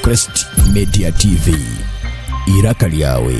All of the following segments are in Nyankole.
Crest Media TV. Iraka lyawe.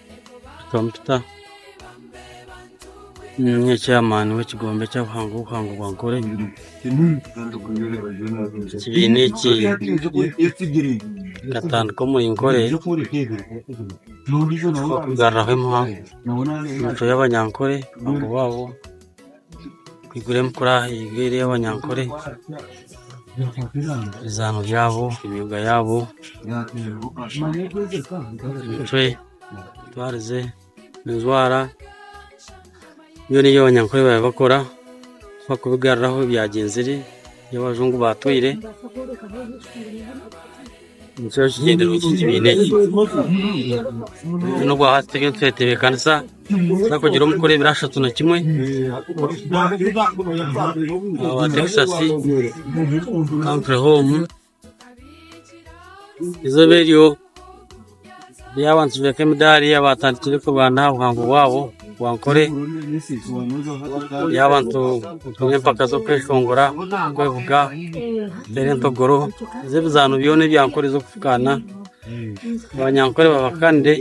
Kampita ninga chairman wekigombe kyabuhangwa obuhangwa bwa Ankole ekibiina eki nkatandika omuri Ankole kugaruraho emitwe yabanyankole Kwigurira emikura eri ey'abanyankore, ebizaano byabo, emyooga yaabo, emitwe, entwarize, enjwara, byona ebi abanyankore baabaire bakora bakubigaruraho ebyagyenzire ebi abajungu baatwire Nikyo kigendererwa eki kibiina eki. N'obu aha turiyo nitwetebeekanisa, nitubaasa kugira omu kukora ebirashatu na kimwe. Aba Texas, Country Home, izooba eryo. Hariyo abantu nibeeka emidaari abaatandikire kurwana aha buhango bwabo bwa Ankole. Hariyo abantu baine empaka z'okweshongora, okwevuga, okuteera entogoro. Hariyo ebizaano byona ebya Ankole z'okufukaana. Abanyankole babahakanire,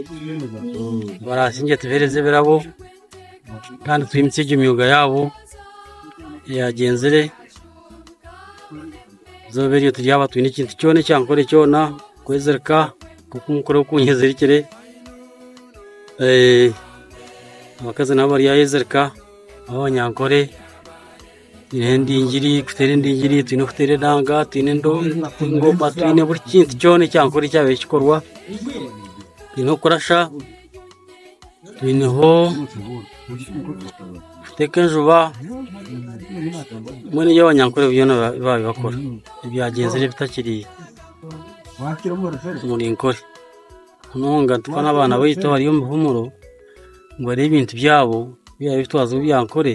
baraasingye tubaheereze ebirabo. kandi twimitsye egyo myooga yaabo eyagyenzire, eizooba eryo tibyaaba twine ekintu kyoona ekyankore kyoona kwezirika nk'oku nkureeba oku nyezirikire, abakazi nabo bari aheezirika, nabo banyankore. Twine endingiri kuteera endingiri twine kuteera enanga twine engoma twine buri kintu kyona ekyankore ekyabaire kikorwa twine okurasa twineho kuteeka enjuba mbwenu ebyabanyankore byona babaire bakora ebyagyenzire bitakiri omu ninkore munonga tuka n'abaana baitu abari omu bihumuro ngu bareebe ebintu byabo ebi babaire bitwaza omu byankore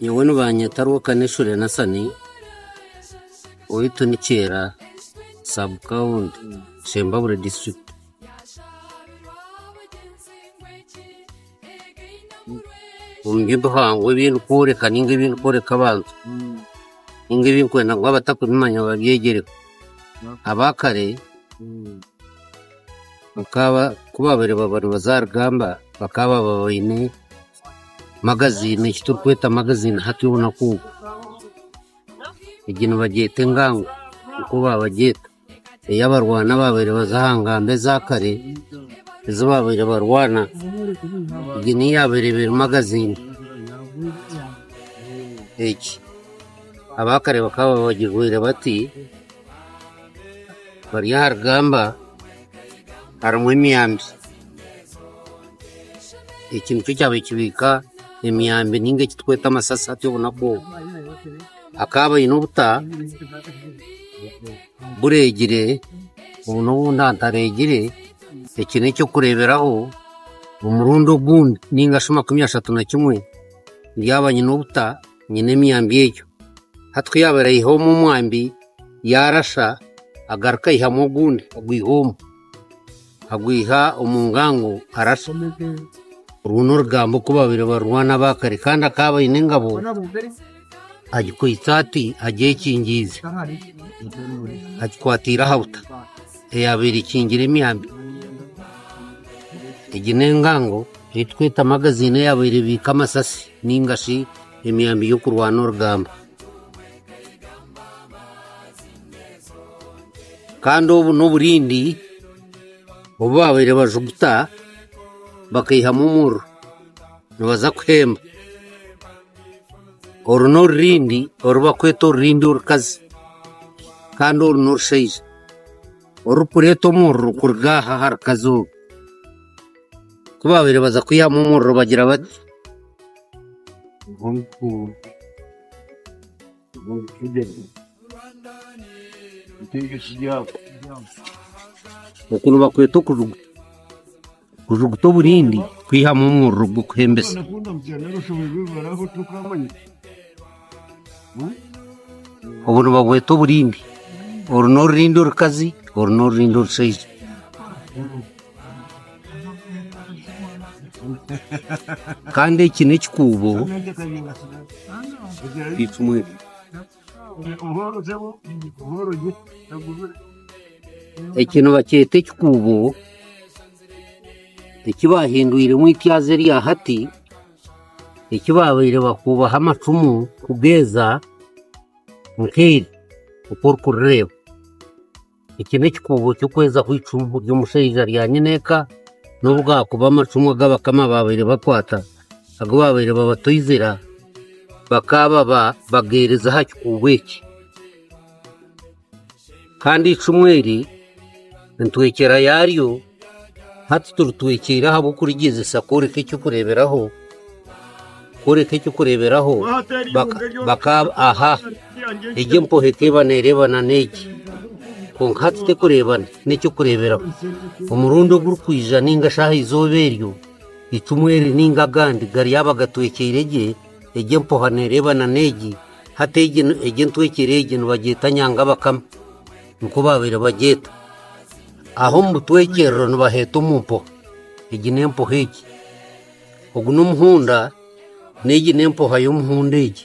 Nyowe nibanyeta Rwokaneshure Nathan owaitu ni Kyera sub county Shembabure district. Omu by'obuhangwa ebi ndikworeka ninga ebi ndikworeka abantu ninga ebi ndikwenda ngu abatarikubimanya babyegyereho aba kare. bakaba ku baabaire baba nibaza aha rugamba bakaba baba baine magaziini eki turikweta magaziini hati obunaku obu. Egi nibagyeta engangu nikwo baabagyeta. Ey'abarwana abaabaire nibaza aha ngamba eza kare ezi baabaire barwana. Egi niyo yaabaire ebaire magaziini egi. Aba kare bakaba babagirwaire bati. Bari aha rugamba harimu emyambi, eki nikyo kyaba ekibiika emyambi ninga eki turikweta amasasi hati obunaku obu. Akaba aine obuta buregire obu n'obundi hataregire, eki n'eky'okureberaho omurundi ogundi ninga shi makumi ashatu na kimwe yaaba aine obuta. nyine emyambi egyo. Hati ku yaabaire aihaho omwe omwambi, yaarasa, agaruka aihamu ogundi agwiha omu, agwiha omu ngango arasa. Orwo n'orugambo ku baabaire barwana aba kare. Kandi akaba aine engabo agikwitse ati agyekingiize, agikwatiire aha buta eyaabaire ekingire emyambi. Egi n'engango ei turikweta magaziini eyaabaire ebiika amasasi. Ninga shi emyambi y'okurwana orugamba. Kandi obu n'oburindi obu baabaire bajuguta bakaihamu omuriro nibaza kuhemba. Oru n'orurindi oru bakweta orurindi orukazi. Kandi oru n'orushaija orurikureeta omuriro kuruga aha aha rukazi oru. Ku baabaire baza kwihamu omuriro bagira bati, Oku nibakweta okujugu- kujuguta oburindi, kwihamu omuriro gw'okuhembesa. Obu nibabweta oburindi, oru n'orurindi orukazi, oru n'orurindi orushaija. Kandi eki n'ekikuubo eki nibakyeta ekikuubo eki baahindwiremu eityaazi erya hati. eki baabaire bakuubaho amacumu kugeeza nk'eri oku orikurireeba. Eki n'ekikuubo ky'okwezaho eicumu ry'omushaija rya nyine eka n'obu gaakuba amacumu agu abakama baabaire bakwata agu baabaire babatoizira bakaababa bageerize aha kikuubo eki. Kandi eicumu eri nitwekyera yaaryo, hati tiritwekyeire ahabw'okurigyezesa kworeka eky'okureeberaho, kworeka eky'okureeberaho bakaab aha, egi empohe ekaba neereebana n'egi, kwonka hati terikureebana. N'eky'okureeberaho, omurundi ogurikwija nainga shi aha izooba eryo, eicumu eri nainga agandi gariba gatwekyeire gye, egi empoha neereebana n'egi. Hati egi entwekere egi nibagyeta Nyangabakame, nikwo baabaire bagyeta. Aho omu butwekyerero nibaheeta omu mpoha, egi n'empoha egi. Ogu n'omuhunda, n'egi n'empoha y'omuhunda egi.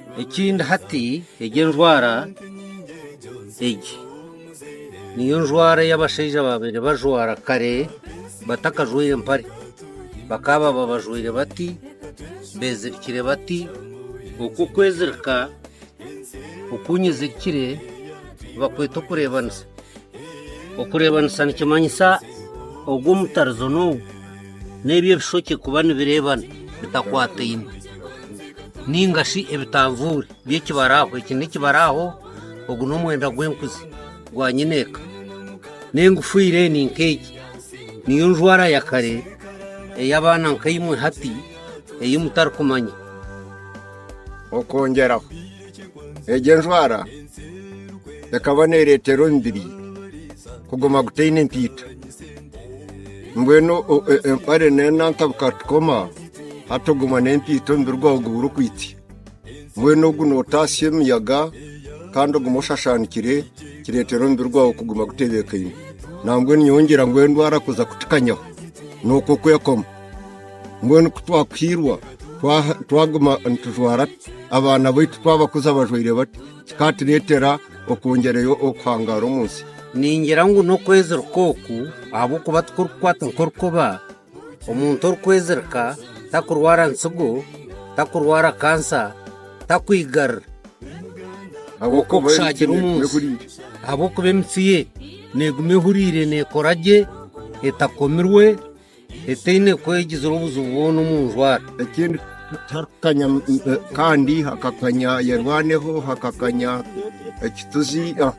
Ekindi hati egi enjwara egi niyo njwara ei abashaija baabaire bajwara kare batakajwaire mpare. Bakaababa bajwaire bati, beezirikire bati. Oku okwezirika oku nyezirikire nibakweta okureebanisa. Okureebanisa nikimanyisa ogu omutarizo n'ogu. n'ebi ebishokye kuba nibireebana bitakwataine nainga shi ebitanvuuri by'ekibaraaho. Eki n'ekibaraaho, ogu n'omwenda gw'enkuzi gwa nyineeka. N'engufiire ni nk'egi, niyo njwara ya kare ey'abaana nka imwe hati ei mutarikumanya. Okwongyeraho, Egyo enjwara ekaba neereetera omubiri kuguma gutaine entaito. Mbwenu o- e- empare n'enantabuka tukoma hati oguma n'entaito omubiri gwawe guba gurikwitsya. Mbwenu ogu nootatsya emiyaga kandi ogume oshashaanikire kireetera omubiri gwawe kuguma gutebeekaine. Nambwenu nyowe ngira ngu endwara kuza kutukanyaho, nikwo kwekoma. Mbwenu ku twakuhiirwa twaguma nitujwara tuta? Abaana baitu twabakuza bajwaire bata? Kikaatureetera okwongyereyo okuhangaara omu nsi? Ningira ngu n'okwezirika oku, ahabw'okuba tikurikukwata nk'orukoba. Omuntu orikwezirika takurwara ntsigo, takurwara kansa, takwigarira nk'okushaagire omu nsi, ahabw'okuba emitsi ye neeguma ehuriire neekora gye etakomirwe. Etaine kwegizira obuzibu bwona omu njwara. Ekindi tiharikukanya kandi hakakanya yerwaneho, hakakanya ekituzi, ah,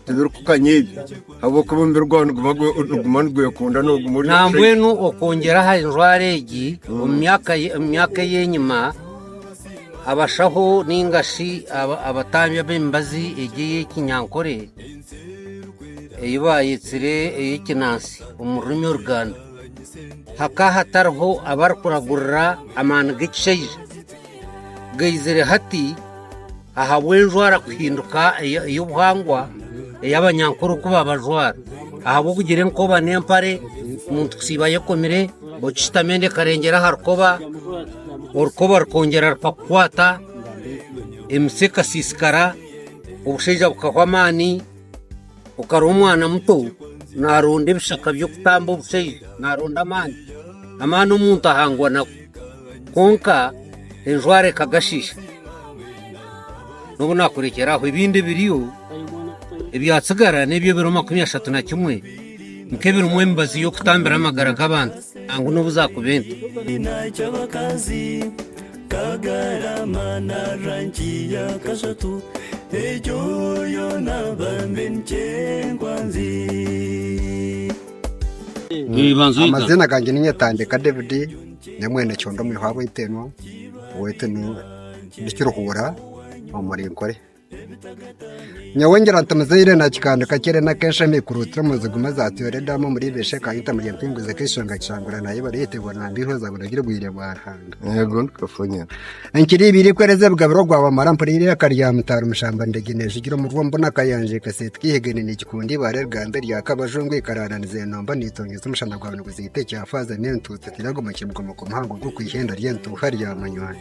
tibirikukanya ebyo ahabw'okuba omubiri gwawe niguba gwe- niguma nigwekunda noguma ori fresh. Nambwenu okwongyera aha njwara egi, omu myaka ye- omu myaka ey'enyima abashaho ninga shi aba- abatambi ab'emibazi egi ey'ekinyankore, ei baayetsire ey'ekinansi omu rurimi oruganda hakaba hatariho abarikuragurira amaani g'ekishaija gaizire hati ahabw'enjwara kuhinduka eya- ey'obuhangwa ey'abanyankore oku babajwara ahabw'okugira enkoba n'empare omuntu kusiiba ayekomire okishutami enda ekarengyera aha rukoba orukoba rukongyera rukakukwata emitsi ekasiisikara Obushaija bukahwa amaani, okaroha omwana muto naronda ebishaka by'okutamba obushaija, naronda amaani. Amaani omuntu ahangwa nago. Kwonka enjwara ekagashisha. N'obu nakurekyera aho ebindi ebiriyo ebyatsigara n'ebyo ebiro makumi ashatu na kimwe nk'ebirimu emibazi y'okutambira amagara g'abantu nangwa n'obu zakuba ente. Kagarama na rangi ya kashatu egyo yoona bambe niky'enkwanzi. Amazina gangye niinye Tandeka David ndi omwene kyondo omwihwaabwe Itenwa oweitu ni Kiruhuura omuri Nkore. Nyowe ngira nti muzaire nakikando kakye rero nake nsha nikuruutsira omu nzi gumwe za Toyota edaamu omuri Ibesha eka Yita omuri Empingo ze Keshanga Kishangura na Yebare Yita Ebona Mbiho za Buragire Obwire bwa Ruhanga. Yego nikafonyera. Enkiri ibiri kwereza ebigabiro ogwa Wamara mpurira iraka rya Mutaara Omushamba Ndegi nejugira omu rwo mbona akayanja ekaseeti keihegene nikikunda ibaare rigambe rya Kabajungu ikaraara nizenomba nitongyesa omushana gwayo niguziita ekya faaza n'entuutu tiraga omu kibuga omuka omuhango gw'okwihenda ry'entuuha rya munywani.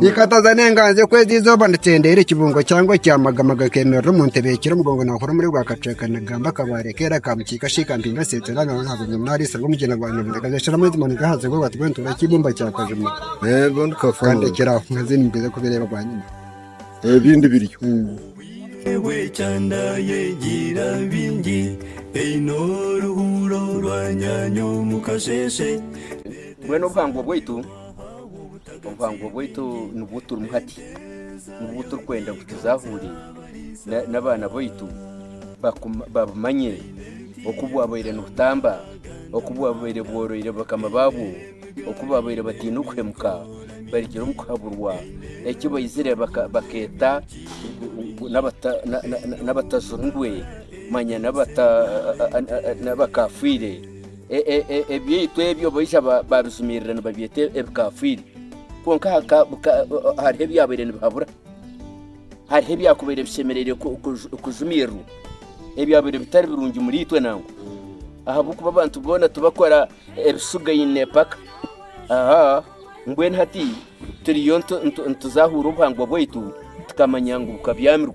Nikataza n'enganzi ku ezi izooba nikyendeera ekibungo kyangwa ekyamagama gakemerera omu ntebe ekira omugongo naahura omuri gwa kacweka nigamba akabaare keera ka mukiika shiika mpinga nseeteera naaza aha bunyonyi naariisirira omugyera gwa nyamugyera gasheshera amaizi manu gaahaza eibumba nti bwenu tureebe eibumba kya kajuma kandi ekira aho nkaze nimbweza kubireeba bwanyima ebindi biriyo Mbwenu obuhangwa bwaitu Obuhangwa bwaitu nibwo turimu hati, nibwo turikwenda ngu tuzaahurire n'abaana baitu babumanye oku bwabaire nibutamba, oku bwabaire bworoire bakama baabwo, oku baabaire bataine kuhemuka barugire omu kuhaburwa, eki baizire bakeeta n'abatazirungwe manya n'abakafiire. Ebyaitu ebyo baija baabijumirira nibabyeta ebikafiiri, kwonka hariho ebyabaire nibihabura. Hariho ebyakubaire bishemereire kujumirirwa, ebyabaire bitari birungi omuriitwe nangwa. Ahabw'okuba abantu boona tibakora ebishugaine paka. Mbwenu hati turiyo nituzaahura obuhangwa bwaitu tukamanya ngu bukabyamirwe.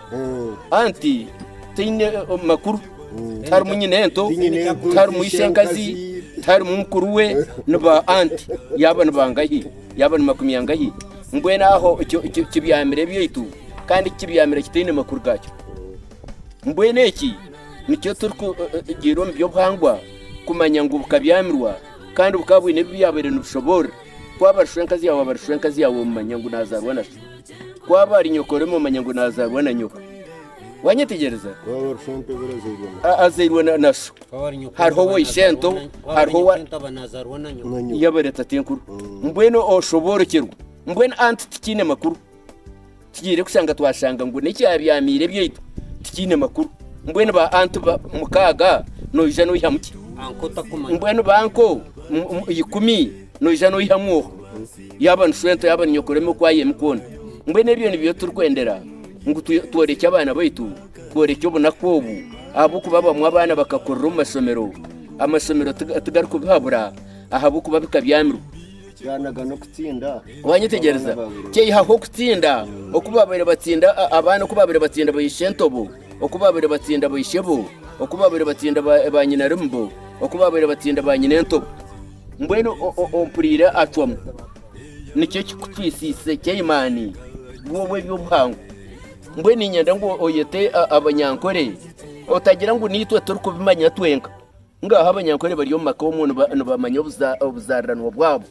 Anti taine makuru, tiharimu nyineento, tiharimu ishenkazi, tiharimu mukuru we, ni ba anti. Yaaba ni bangahi? Yaaba ni makumi angahi? Mbwenu aho ekyo ki- kibyamire ebyaitu, kandi eki kibyamire kitaine makuru gaakyo. Mbwenu eki nikyo turikugira omu by'obuhangwa, kumanya ngu bukabyamirwa, kandi bukaba bwine ebi byabaire nibushoboorora. Ku aba ari shwenkazi yaawe, aba ari shwenkazi yaawe, omumanya ngu naazaarwa nasyo. Ku aba ari nyoko, oreme omanya ngu naazaarwa na nyoko. Waanyetegyereza? Azairwe na sho. Hariho owa ishento, hariho owa yabaire tatenkuru. Mbwenu oshoboorokyerwa. Mbwenu anti tikiine makuru. Tugiire kushanga twashanga ngu n'ekyabyamiire ebyaitu tikiine makuru. Mbwenu ba anti mukaaga noija noihamu ki? Mbwenu ba anko ikumi noija noihamu oha? Yaaba ni shweta, yaaba ni nyokorome okwayemu kwona. Mbwenu ebyo nibyo turikwendera ngu tworekye abaana baitu, tworekye obunaku obu ahabw'okuba abamwe abaana bakakurira omu mashomero, amashomero tigarikubihabura ahabw'okuba bikabyamirwa. Waanyetegyereza? Kyeyihaho okutsinda oku baabaire batsinda abaana oku baabaire batsinda baishentoobo, oku baabaire batsinda baishebo, oku baabaire batsinda baanyinarimubo, oku baabaire batsinda baanyinentoobo. Mbwenu ompuriire acwamu, nikyo kikutwisiise Kaimaani, gwe ow'eby'obuhangwa. Mbwenu niinyenda ngu oyete abanyankore, otagira ngu niitwe turikubimanya twenka. Ngaaha abanyankore bari omu maka omwo nibamanya obuzaariranwa bwabo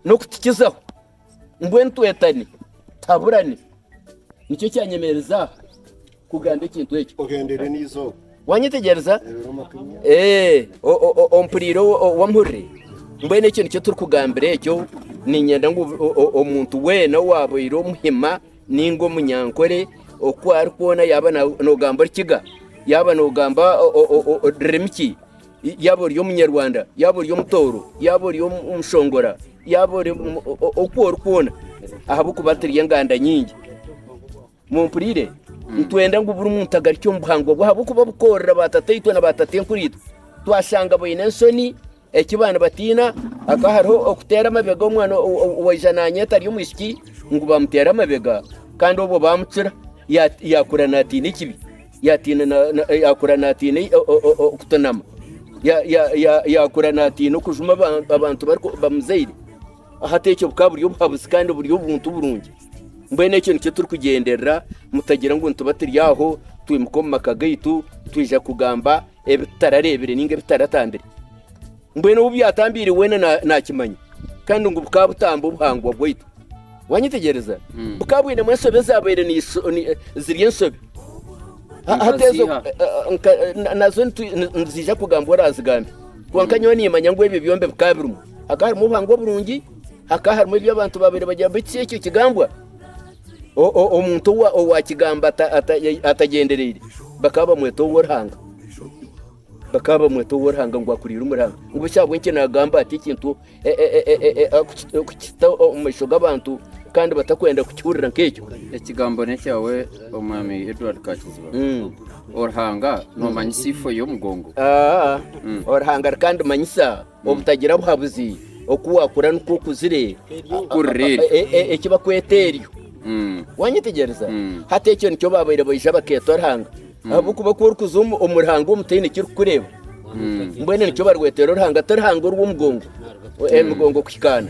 n'okutukizaho. mbwenu twetane tutaburane. Nikyo kyanyemereza kugamba ekintu ekyo. Ogendere n'eizooba. Wanyetegyereza? Ee, ompuriire wampurire. Mbwenu ekyo nikyo turikugambira ekyo. Niinyenda ngu omuntu weena owaabaire omuhima nainga omunyankore oku ari kwona, yaaba noogamba Orukiga, yaaba noogamba rurimi ki, Yaaba ori Omunyarwanda, yaaba ori Omutooro, yaaba ori Omushongora, yaaba ori oku ori kwona, ahabw'okuba turi enganda nyingi. Mumpurire, hmm. nitwenda ngu buri muntu agarikye omu buhangwa bwe ahabw'okuba bukoorira baatataitwe na baatatenkuriitwe twashanga baine ensoni eki baana batiina aka hariho okuteera amabega omwana waija naanyeta ari omwishiki ngu baamuteera amabega kandi obwo baamucura yaakura naatiina ekibi Yaatiina na, na, yaakura naatiina ei- o- o- o- okutunama Ya- ya- ya- yaakura naatiina okujuma aba- abantu bariku- bamuzaire hati ekyo bukaba buri obuhabuzi kandi buri obuntu burungi mbwenu ekyo nikyo turikugyenderera mutagira ngu nituba turi aho twimuka omu maka gaitu twija kugamba ebi tutarareebire nainga ebi tutaratambire. Mbwenu obu byatambiire weena naakimanya, kandi ngu bukaba butamba obuhangwa bwaitu. Waanyetegyereza? Bukaba bwinemu ensobi ezaabaire ziri ensobi. Hati ezo nazo niziija kugambwa oraazigambe. Kwonka nyowe niimanya ngu ebyo byombi bikaba birimu. Hakaba harimu obuhangwa oburungi, hakaba harimu ebi abantu baabaire bagira, beitu si ekyo kigambwa. Omuntu owaakigamba atagyendereire, bakaba bamweta ow'oruhanga. Bakaba bamweta ow'oruhanga ngu akuriire omuri Ruhanga. Ngu shi ahabw'enki naagamba ati ekintu kukita omu maisho g'abantu kandi batakwenda kukihurira nk'ekyo? Ekigambo n'ekyawe Omwami Edward Kakiziba. Ruhanga noomanyisa eifo y'omugongo? Ruhanga arikandimanyisa Obutagira buhabuzi, oku waakura nikwo okuzire kukurira eryo. Eki bakweta eryo. Waanyetegyereza? Hati ekyo nikyo baabaire baija bakeeta Ruhanga. Ahabw'okuba ku orikuza omu Ruhanga omu taine ki orikukureeba, mbwenu nikyo barweteera Oruhanga, ti Ruhanga orw'omugongo, emigongo kuhikaana.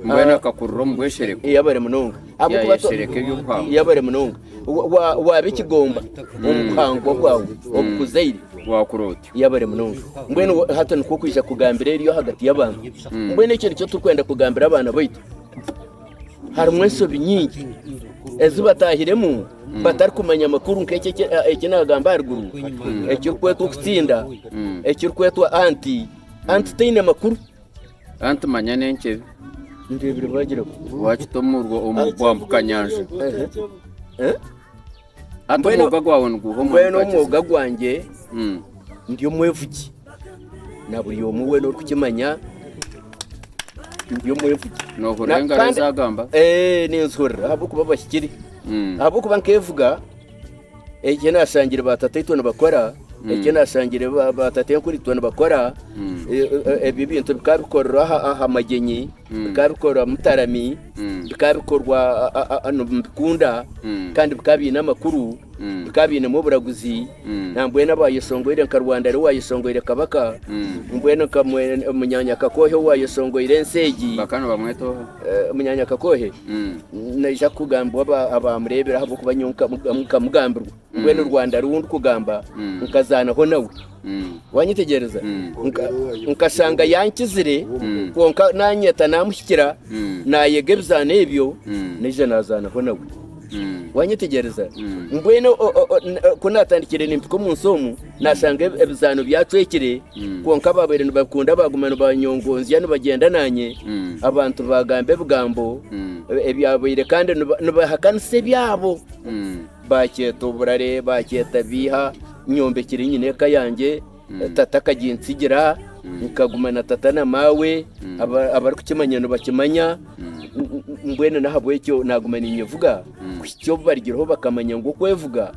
Mbwenu akakurira omu bweshereko. Yabare munonga. Ahabw'okuba to- Yayeshereka eby'obuhangwa. yabare munonga Wa- wa- waaba ekigomba omu buhangwa bwawe obukuzaire Waakura ota. Yabare munonga. Mbwenu hati nikwo kwija kugambira eryo ahagati y'abantu. Hmm. Mbwenu ekyo nikyo turikwenda kugambira abaana baitu. Harimu ensobi nyingi ezi batahiremu hmm. batarikumanya amakuru nk'ekyo eki nagamba haruguru hmm. ekirikwetwa okutsinda ekirikwetwa anti anti taine makuru anti manya n'enkyebe ndebire bagira wakita omurwa omu bwambuka nyanja eh? Hati omwoga gwawe niguha omwani Mbwenu omwoga gwangye hmm. ndi omwefugi na buri omwe weena orikukimanya ndi omwefugi nohurira engaro ezagamba eh, ninzihurira ahabw'okuba bahikire hmm. ahabw'okuba nkefuga ekyo nashangire batataitu nibakora hmm. ekyo nashangire batatenkuritu nibakora eh, eh, ebyo ebintu bikaba bikorerwa aha magyenyi bikaba bikorwa mutarami bikaba bikorwa nibikunda kandi bikaba biine amakuru bikaba biinemu oburaguzi nambwenu abayeshongoire nka rwanda ariwe wayeshongoire kabaka mbwenu nka munyanya kakoohe owayeshongoire ensi egi eh, munyanya kakoohe naija kugambwa abamureebire ahabwokuba nyowe nkamugambirwa Mbwenu Rwanda ariwe ou ndikugamba nkazaanaho nawe. Waanyetegyereza? Nka- Nkashanga yankizire, kwonka naanyeta naamuhikira, naayega ebizaano ebyo, naija naazaanaho nawe. Waanyetegyereza? Mbwenu o- o- o- n- o- ku naatandikire nimpika omu nsi omu, naashanga ebi- ebizaano byacwekire, kwonka abaabaire nibabikunda baaguma nibanyongoonzya nibagyenda naanye, abantu baagamba ebigambo ebyabaire kandi niba- nibahakanisa ebyabo. Baakyeta oburare, baakyeta biiha. Nyombekire nyine eka yangye. Tata akagintsigira. Nkaguma na tata na maawe. Abarikukimanya nibakimanya. Mbwenu n'ahabw'ekyo naaguma ninyevuga kuhitsya obu barigireho bakamanya ngu okwevuga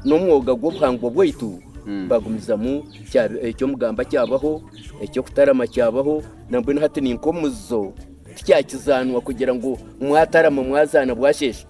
n'omwoga gw'obuhangwa bwaitu. Bagumizamu eky'omugamba kyabaho, eky'okutarama kyabaho. Nambwenu hati ni nk'omuzizo tikyakizaanwa kugira ngu mwatarama mwazaana bwasheesha.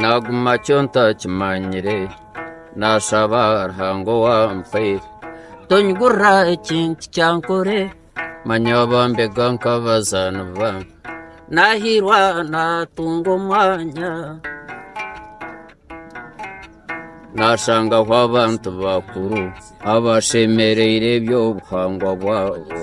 Naaguma kyo ntakimanyire, naashaba Ruhanga owampaire. Tonyigurira ekintu kyankore, manya abambega nk'abazaani bange. Naahiirwa naatunga omwanya, naashangaho abantu bakuru abashemereire eby'obuhangwa bwabo.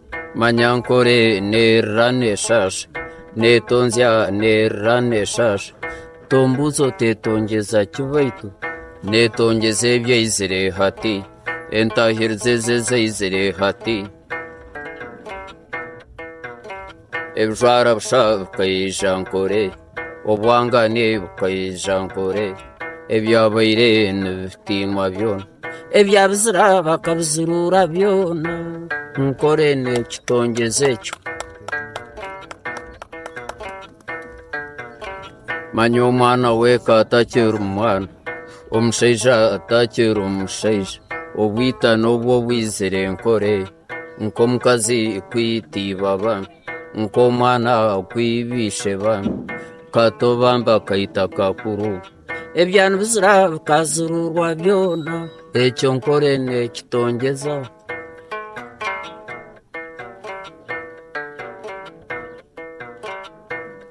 Manya nkore nerira neshasha netonzya nerira neshasha tombuuza otetongyeza ki baitu netongyeza ebyo aizire hati entahiriza ezo ezi aizire hati ebijwara busha bikaija nkore Obwangane bukaija nkore ebyabaire nibitiimwa byona, ebyabizira bakabiziruura byona, nkore n'ekitongyeze ekyo. Manya omwana w'eka atakiri mwana, omushaija atakiri omushaija, obwita n'obwo bwizire nkore, nk'omukazi kwitiiba abaana. Nk'omwana ku ibyisheba Ka tobamba kaita kakuru Ebya nibizira bikaziruurwa byona Ekyo nkore nekitongyeza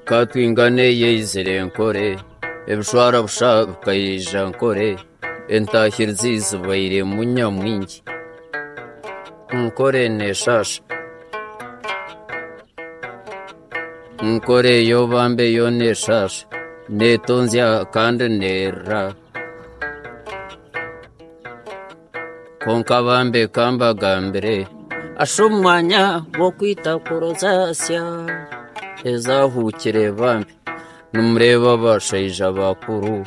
Ka twingane eyeizire nkore Ebishwara busha bikaija nkore Entahirizi zibairemu nyamwingi Nkore nesaas. Nkore yo bambe yo nesaas. Netonzya kandi nerra. Konka bambe kambagambire. Asha omwanya gw'okwita kurozaasya. Ezaahukire bambi. Nimureeba abashaija bakuru.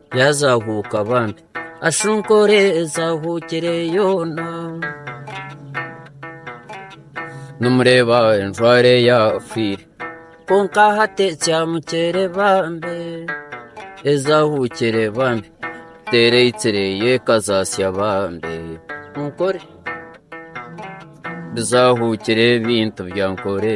Yaazahuuka bambi ashunkore ezahuukire yoona nimureeba enjware yaafiire kwonka hati ekyamukyere bambi ezahuukire bambi teereitsire yeekazaasya bambi nkore bizahuukire ebintu bya nkore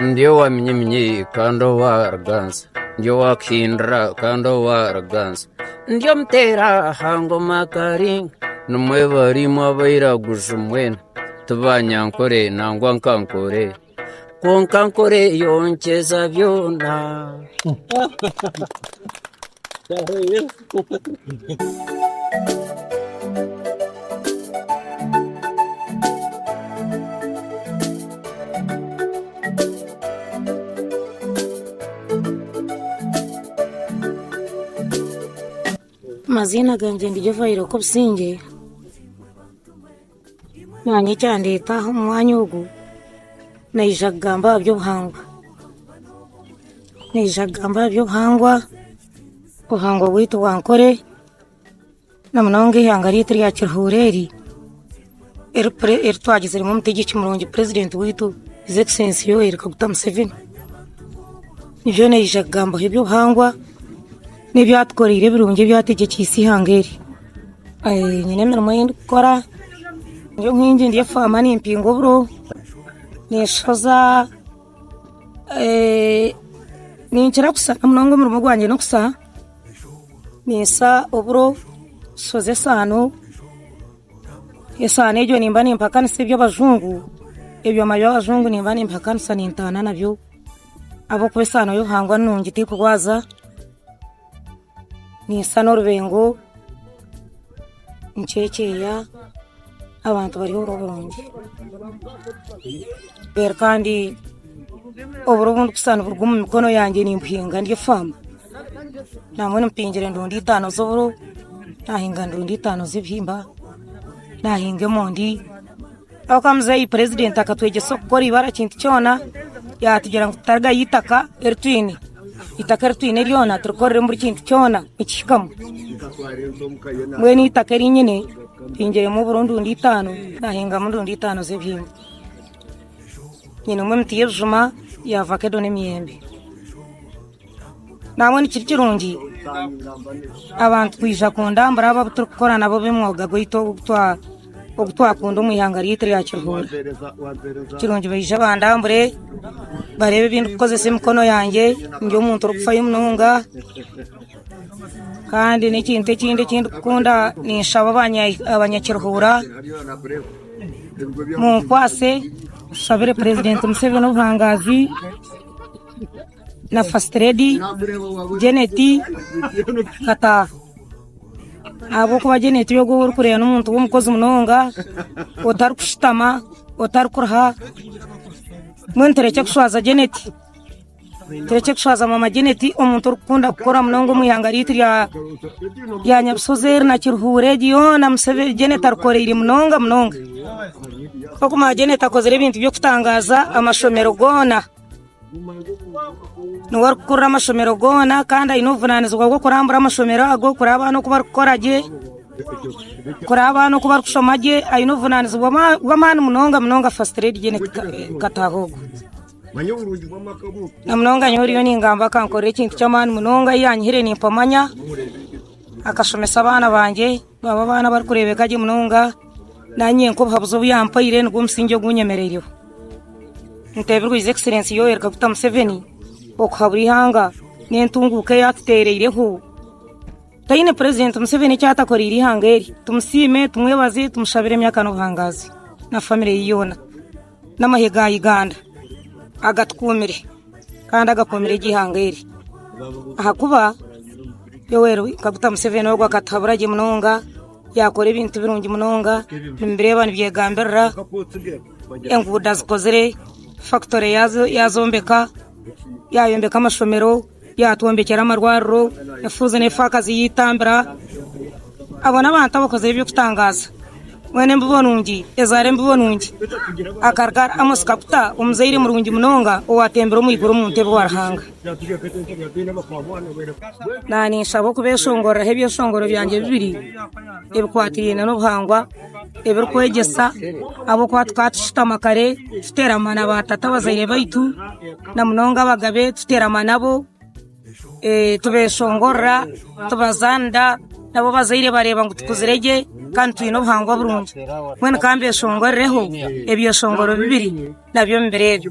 Ndi owa minyinyi kandi owa ruganzu, ndi owa kuhindura kandi owa ruganzu, ndi omuteera aha ngoma karinga, nimwe barimu abairaguju mwena, tibanyankore nangwa nkankore, kwonka nkore yonkyeza byona. Amaziina gangye ndi Jovah Iroko Busingye. Nanye ekyandeeta aha omu mwanya ogu, naija kugamba aha by'obuhangwa, naija kugamba aha by'obuhangwa, obuhangwa bwaitu bwa Ankole, na munonga eihanga ryaitu erya Kiruhuura eri, eri pre eri twagiziremu omutegyeki murungi president waitu His Excellency Yoweri Kaguta Museveni, nibyo naija kugambaho eby'obuhangwa, n'ebyatukoreire ebirungi ebyategyekyeise eihanga eri. Nyine emirimo ei ndikukora, ndi omuhingi ndi omu faama nimpinga oburo, ninshoza, ninkira kusha munonga omurimo gwangye n'okusha, ninsha oburo, nshoza esaano, esaano egyo nimba nimpakanisa eby'abajungu, ebyoma by'abajungu nimba nimpakanisa nintaana nabyo ahabw'okuba esaano y'obuhangwa nungi terikurwaza. Ninsana orubengo, nicecea abantu bari omu burungi reero kandi oburo obu ndikushusha niburuga omu mikono yangye nimbuhinga ndi faamu nangwa nimpingira enduuda itaano z'oburo, nahinga enduuda itaano z'ebihimba, nahinga emondi. Oka muzeeyi purezidenti akatwegyesa okukora eibara ekintu kyona, yaatugira ngu tutarigayo eitaka eri twine. Eitaka eri twine ryona turikoreremu buri kintu kyona nikihikamu. Mbwenu eitaka eri nyine mpingiremu oburo ndundi itaano, naahingamu ndundi itaano z'ebihimba. Nyinemu emiti y'ebijuma, ya vakedo n'emiyembe. Naabwe nikiri kirungi abantu kwija kundambura abo abu turikukora nabo ab'omwoga gwaitu ogu twakunda omu ihanga ryaitu rya Kiruhura. Kirungi baije bandambure bareebe ebi ndikukoresa emikono yangye, ndi omuntu orikufayo munonga. Kandi n'ekintu ekindi eki ndikukunda ninshaba Abanyakiruhura munkwase nshabire Purezidenti Museveni obuhangaazi. na first lady Janet Kataha ahabw'okuba Janet ogwo ou orikureeba n'omuntu w'omukozi munonga otarikushutama otarikuruha mbwenu turekye kushwaza Janet turekye kushwaza maama Janet omuntu orikukunda kukora munonga omu ihanga ryaitu rya Nyabusozi eri na Kiruhuura egi yoona Janet arikoreire munonga munonga, kokumanya Janet akozire ebintu by'okutangaaza amashomero goona. niwe arikukurira amashomero goona kandi aine obuvunaanizibwa bw'okurambura amashomero ago kureba abaana oku barikukora gye, kureba abaana oku barikushoma gye. Aine obuvunaanizibwa bw'amaani munonga munonga Fasiti Reedi Jeneti Kataahogo. Na munonga nyowe oriyo ningamba akankorera ekintu ky'amaani munonga, ei yaanyihire nimpa amanya, akashomesa abaana bangye. Abo abaana abarikureebeka gye munonga, naanye nk'obuhabuzi obu yampaire nigwo musingye ogu nyemereireho. Nteebirwe His Excellency Yoweri Kaguta Museveni okuhabura eihanga n'entunguuka ei atuteereireho. Twine Purezidenti Museveni eki atakoreire eihanga eri. Tumusiime, tumwebaze, tumushabire emyaka n'obuhangaazi na famire ye yoona. n'amahyo ga Uganda agatukuumire kandi agakuumire egi ihanga eri ahakuba Yoweri Kaguta Museveni ogu akatuhabura gye munonga yakora ebintu birungi munonga nimubireeba nibyegambirira enguudo azikozire, fakitori yaazombeka, yaayombeka amashomero. Yaatwombekyera amarwariro, efuuzi n'efaakazi yaitambira. Abo n'abantu abakozire eby'okutangaaza. Weena embibo nungi ezaara embibo nungi. Akaruga ari Amosi Kaguta, omuzaire murungi munonga owaatembire omu iguru omu ntebe wa Ruhanga. Naanye ninshaba okubeeshongoreraho ebyeshongoro byangye bibiri ebikwatiraine n'obuhangwa. ebirikwegyesa ahabw'okuba tukaba tushutama kare tuteerama na baatata abazaire baitu na munonga abagabe tuteerama nabo tubeshongorora tubazaanira nabo abazaire bareeba ngu tukuzire gye kandi twine obuhangwa burungi mbwenu ka mbeshongorireho ebyeshongoro bibiri nabyo omu biro ebyo.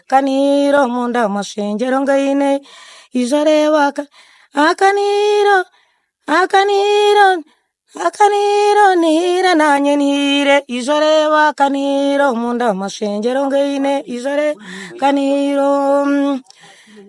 Akaniiro omunda omu mashengyero ngaine ija reeba akaniiro akaniiro akaniiro niire naanye niire ija reeba akaniiro omunda omu mashengyero ngaine ija reeba akaniiro.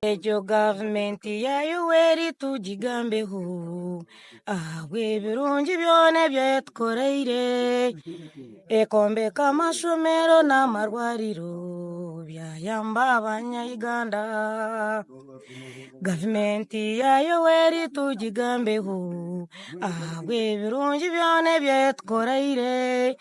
Egyo gavumenti ya Yoweri tugigambeho ahabw'ebirungi byona ebi etukoreire, ekombeka amashomero n'amarwariro byayamba Abanya-Uganda. Gavumenti ya Yoweri tugigambeho ahabw'ebirungi byona ebi etukoreire.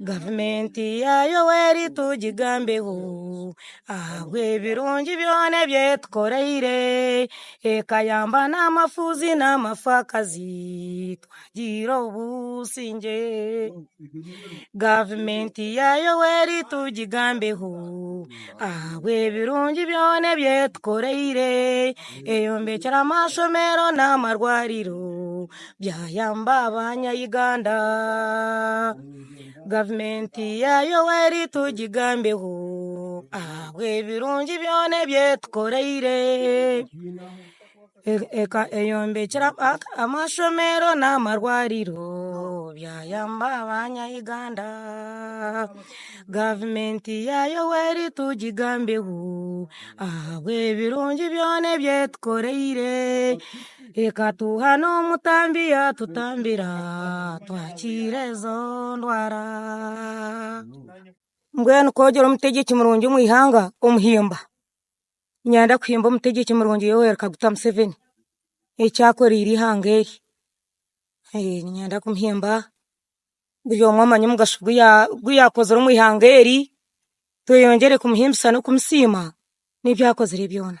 Gavumenti ya Yoweri tugigambeho ahabw'ebirungi byona ebi etukoreire, ekayamba n'amafuuzi n'amafakazi twagiire obusingye. Gavumenti ya Yoweri tugigambeho ahabw'ebirungi byona ebi etukoreire, eyombekyire amashomero n'amarwariro. byayamba abanyayuganda gavumenti ya yoweri tugigambeho ahabw'ebirungi byona ebi etukoreire eyombekyire abantu amashomero n'amarwariro byayamba abanyayuganda gavumenti ya yoweri tugigambeho ahabw'ebirungi byona ebi etukoreire Ekatuha n'omutambi yatutambira twakiira ezo ndwara mbwenu kwogyera omutegyeki murungi omu ihanga omuhimba niinyenda kuhimba omutegyeki murungi Yoweri Kaguta Museveni eki akoreire ihanga eri niinyenda kumuhimba buri omwe amanye omugasho ogu yaakozire omu ihanga eri tweyongyere kumuhimbisa n'okumusiima n'ebi akozire byona.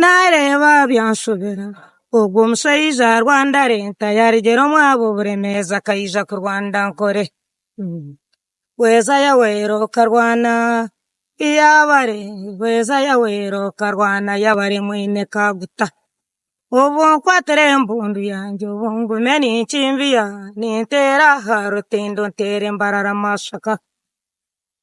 Naareeba byanshobera, ogwo omushaija aha Rwandare ntayaarugyera omwabo buremeezi akaija kurwanira nkore. Hweza Yaweh okarwana Iyabare, hweza Yaweh okarwana Yabare mwine Kaguta. Obu nkwatire embundu yangye obu ngume ninkimbiya, ninteera aha rutindo nteere embarara mashaka.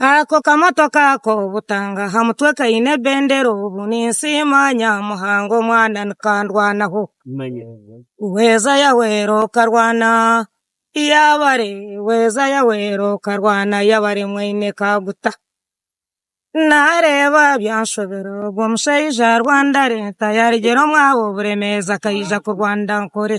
Ako kamotoka ako butanga aha mutwe kaine ebendera obu ninsiima Nyamuhanga omwana nikandwanaho Hweza Yahwera okarwana yabare Hweza Yahwera okarwana yabare mwine kaguta Nareeba byanshobera ogwo mushaija arwandare ntayarugire omwaabo oburemeezi akaija kurwanira nkore.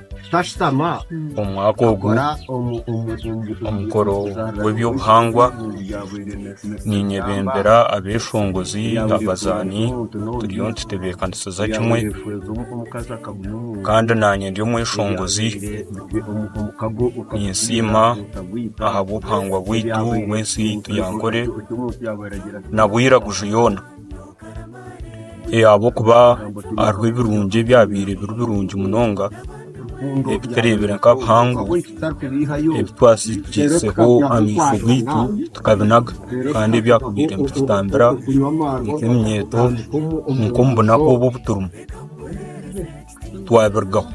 Omwaka ogu omukoro gw'eby'obuhangwa niinyebembera abeeshongozi, abazaani turiyo nitutebeekanisiza kimwe kandi naanye ndi omweshongozi ninsiima ahabw'obuhangwa bwaitu bw'ensi yaitu ya Ankore na Bwiraguju yoona. Ahabw'okuba hariho ebirungi ebyabaire biri birungi munonga ebitureebire nk'abuhangwa ebi twasigikiseho amaisho gaitu tukabinaga kandi ebyabaire nibitutambira nk'eminyeeto nk'omu bunaku obu turimu twabirugaho.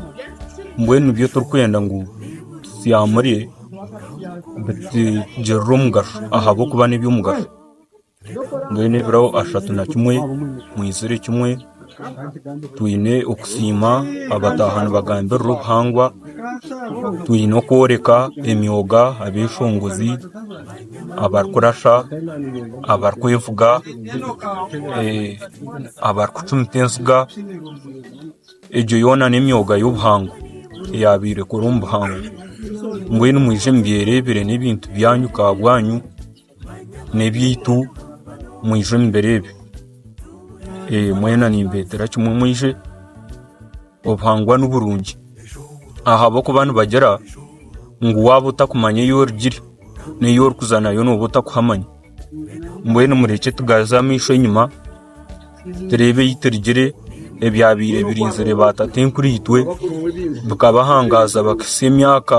Mbwenu nibyo turikwenda ngu tusiyaamure bitugirire omugasho ahabw'okuba n'eby'omugasho. Mbwenu ebiro ashatu na kimwe mwizire kimwe twine okusiima abataaha nibagambirira obuhangwa twine okworeka emyoga abeshongozi abarikurasha abarikwevuga abarikucumita enziga egyo yoona n'emyoga y'obuhangwa eyaabaire ekora omu buhangwa mbwenu mwije mubyereebire n'ebintu byanyu ka bwanyu n'ebyaitu mwije omu biro ebi, mwena nimbeetera kimwe mwije obuhangwa niburungi ahabw'okuba nibagira ngu waaba otakumanya ei orugire n'ei orikuza nayo nooba otakuhamanya mbwenu murekye tugaruze amaisho enyima tureebe ei turugire ebyabaire birinzire baatata enkuru itwe bikabahangaaza bakahitsya emyaka